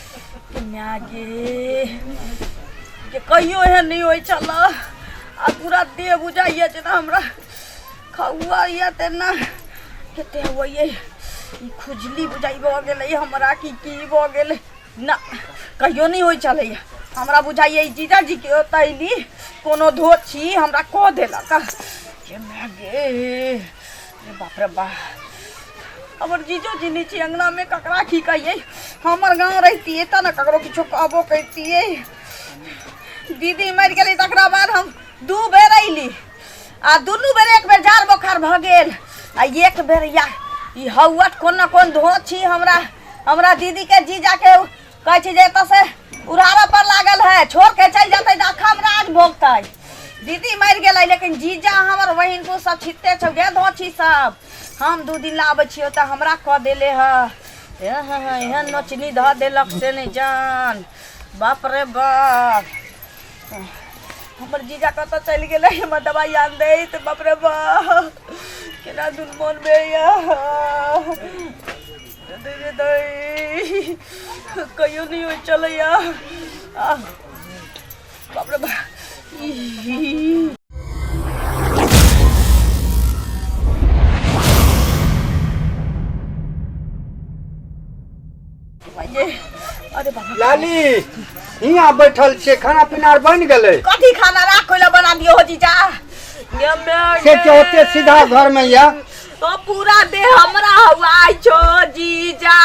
माय गे जे कहियो एहन नहि होइ छल आ पूरा देह बुझाइए जेना हमरा खौआ यए तेना कते होइए ई खुजली बुझाइ भऽ गेलै हमरा कि की भऽ गेलै ना कहियो नहि होइ छलैए हमरा बुझाइए ई जीजाजीके ओतैली कोनो धोछी हमरा कऽ देलक हे माय गे बाप रे बाप हमर जीजो जी नहि छै अङ्गनामे ककरा की कहियै हमर गाँव रहितियै तऽ ने ककरो किछो कहबो करितियै दीदी मरि गेलै तकरा बाद हम दू बेर अयली आ दुनू बेर एक बेर जाड़ बोखार भऽ गेल आ एक बेर या ई हौवट कोन ने कोन धो छी हमरा हमरा दीदीके जीजाके कहै छी जे एतऽ से उड़ाबऽ पर लागल है छोड़ के चल जाते तऽ अखम राज भोगते दीदी मर गए लेकिन जीजा हमर बहन को सब छिते छौ गे धोछी सब हम दू दिन लाबे छियो तऽ हमरा कह देले ह एहन नोचनी धऽ देलक से नहीं जान बाप रे बाप हमर जीजा कत चल गए हमर दवाई आन दे तऽ बाप रे बाप केना दुन मोन में या कहियो नहि हो चलैया बाप रे बा लाली यहाँ बैठल छे खाना पीना बन गए कथी खाना राख बना दियो हो जीजा से होते सीधा घर में या तो पूरा दे हमरा हुआ छो जीजा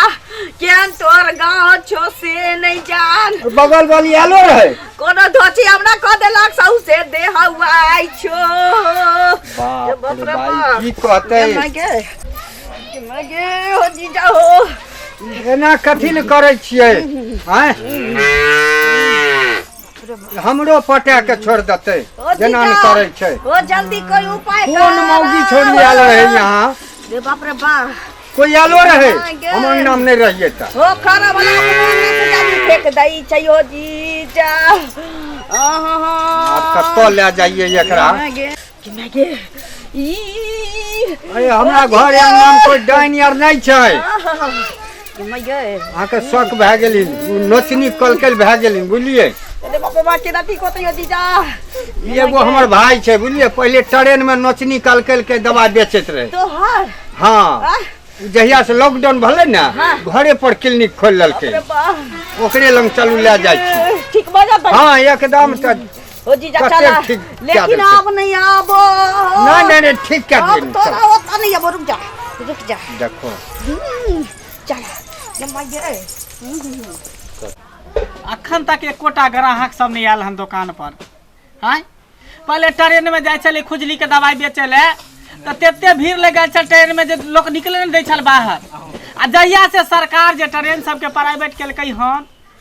केन तोर गांव छो से नहीं जान बगल वाली आलो रहे कोनो धोती हमरा क देलक सौ से दे हुआ छो बाप बाप रे रे भाई बाप। की कहते केना गे केना गे हो जीजा हो एना कथी ले करे छियै हैं हमरो पटा के छोड़ देते ओ जेना ने जीजा, करे छै ओ जल्दी कोई उपाय कोन कर। मौगी छोड़ी आयल रहे यहाँ रे बाप रे बाप कोई आलो रहे हाँ, गे। हम अंगना में नहीं रहिए ता ओ खाना बना के मारने से जानी फेंक दई चाहियो जीजा आहा अब कत्तो ले जाइए एकरा हाँ, गे। कि मैं के ई अरे हमरा घर आंगना में कोई डाइन आर नहीं छै कि मैं के अहाँ के शौक भए गेली उ नोचनी कलकल भए गेली बुझलिए अरे बाप रे बाप केना ठीक होतै यो जीजा ई एगो हमर भाई छै बुझलिए पहिले ट्रेन में नोचनी कलकल के दवा बेचैत रहे तो हार हाँ उ जहिया से लॉकडाउन भेलै ने घरे पर क्लिनिक खोल लेलकै अरे बाप ओकरे लग चलू लए जाइ छी ठीक बाजा पर हाँ एकदम तऽ ओ जीजा कते चला ठीक कए लेकिन देलकै। अब नहीं आबो नहीं नहीं नहीं ठीक कर अब देनी तोरा चल होता नहीं आबो रुक जा रुक जा देखो हम्म, चल जम्मा ये अखन तक एकोटा ग्राहक सब नहीं आयल हन दुकान पर आय पहले ट्रेन में जाइ छलै खुजली के दवाई बेचै ले तऽ तते भीड़ लग गेल छल ट्रेन में जे लोक निकले नहि दै छल बाहर आ जहिया से सरकार जे ट्रेन सबके प्राइवेट केलकै हन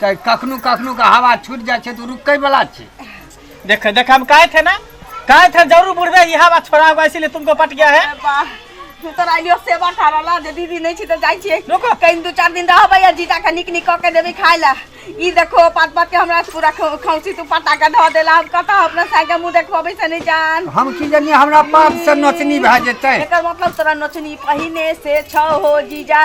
तऽ कखनो कखनो के हवा छूट जाइ छै तऽ रुकै बला छै देख देख हम कहे थे ना कहे थे जरूर बुढ़वे ये हवा छोड़ा होगा इसीलिए तुमको पट गया है तोरा लियो सेवा ठारला जे दीदी नहीं छी तो जाई छी रुको कहीं दो चार दिन रहबे या जीजा के निक निक के देबे खाय ला ई देखो पात पात के हमरा से पूरा खौ- खौसी तू पटा के धो देला हम कत अपना सागे मुंह देखबे से नहीं जान हम की जानिए हमरा पाप से नोचनी भए जेतै एकर मतलब तोरा नोचनी पहिने से छौ हो जीजा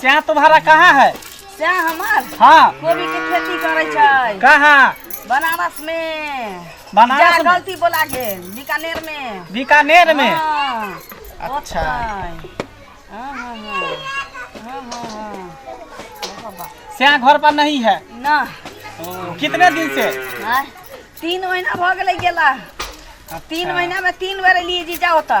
चाय तुम्हारा कहाँ है चाय हमार हाँ कोबी के खेती करे छै कहाँ बनारस में बनारस में गलती बोला गेल बीकानेर में बीकानेर में हाँ, अच्छा हाँ, हाँ, हाँ, हाँ, हाँ, हाँ। श्याम घर पर नहीं है ना कितने दिन से तीन महीना भ गेलै गेला तीन अच्छा। महीना में तीन बेर लिए जी जाओ तो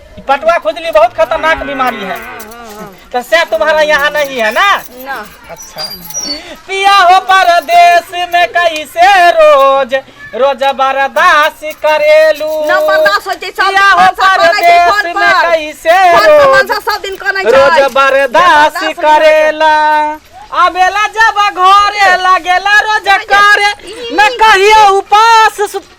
पटुआ खुजली बहुत खतरनाक बीमारी है तो से तुम्हारा यहाँ नहीं है ना ना अच्छा पिया हो परदेश में कैसे रोज रोज बर्दास करेलू ना बर्दाश्त होइ छै, सब पिया हो दिन सब करै छै परदेश फोन में पर। कैसे फोन पर रोज मनसा सब दिन कनै छै रोज बर्दाश्त बर्दाश्त नहि करेला आबेला जब घरे लगेला रोज करे मैं कहियो उपास सुत-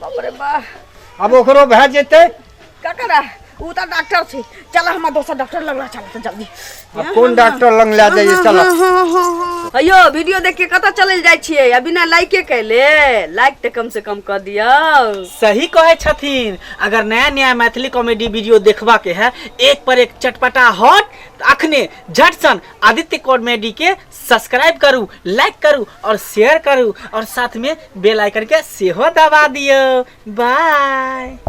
बाप रे बा अब ओकरो भए जेतै का करा ऊ तऽ डॉक्टर छै चल हमरा दोसर डॉक्टर लग रहा चल तऽ जल्दी आब कोन डॉक्टर लग लए जाइए चल अयो वीडियो देख के कतऽ चलल जाइ छियै आ बिना लाइके कैले लाइक तऽ कम से कम कऽ दियौ सही कहे छथिन अगर नया नया मैथिली कॉमेडी वीडियो देखबा के है एक पर एक चटपटा हॉट अखने झटसन आदित्य कॉमेडी के सब्सक्राइब करू लाइक करू और शेयर करू और साथ में बेल आइकन के सेहो दबा दियो बाय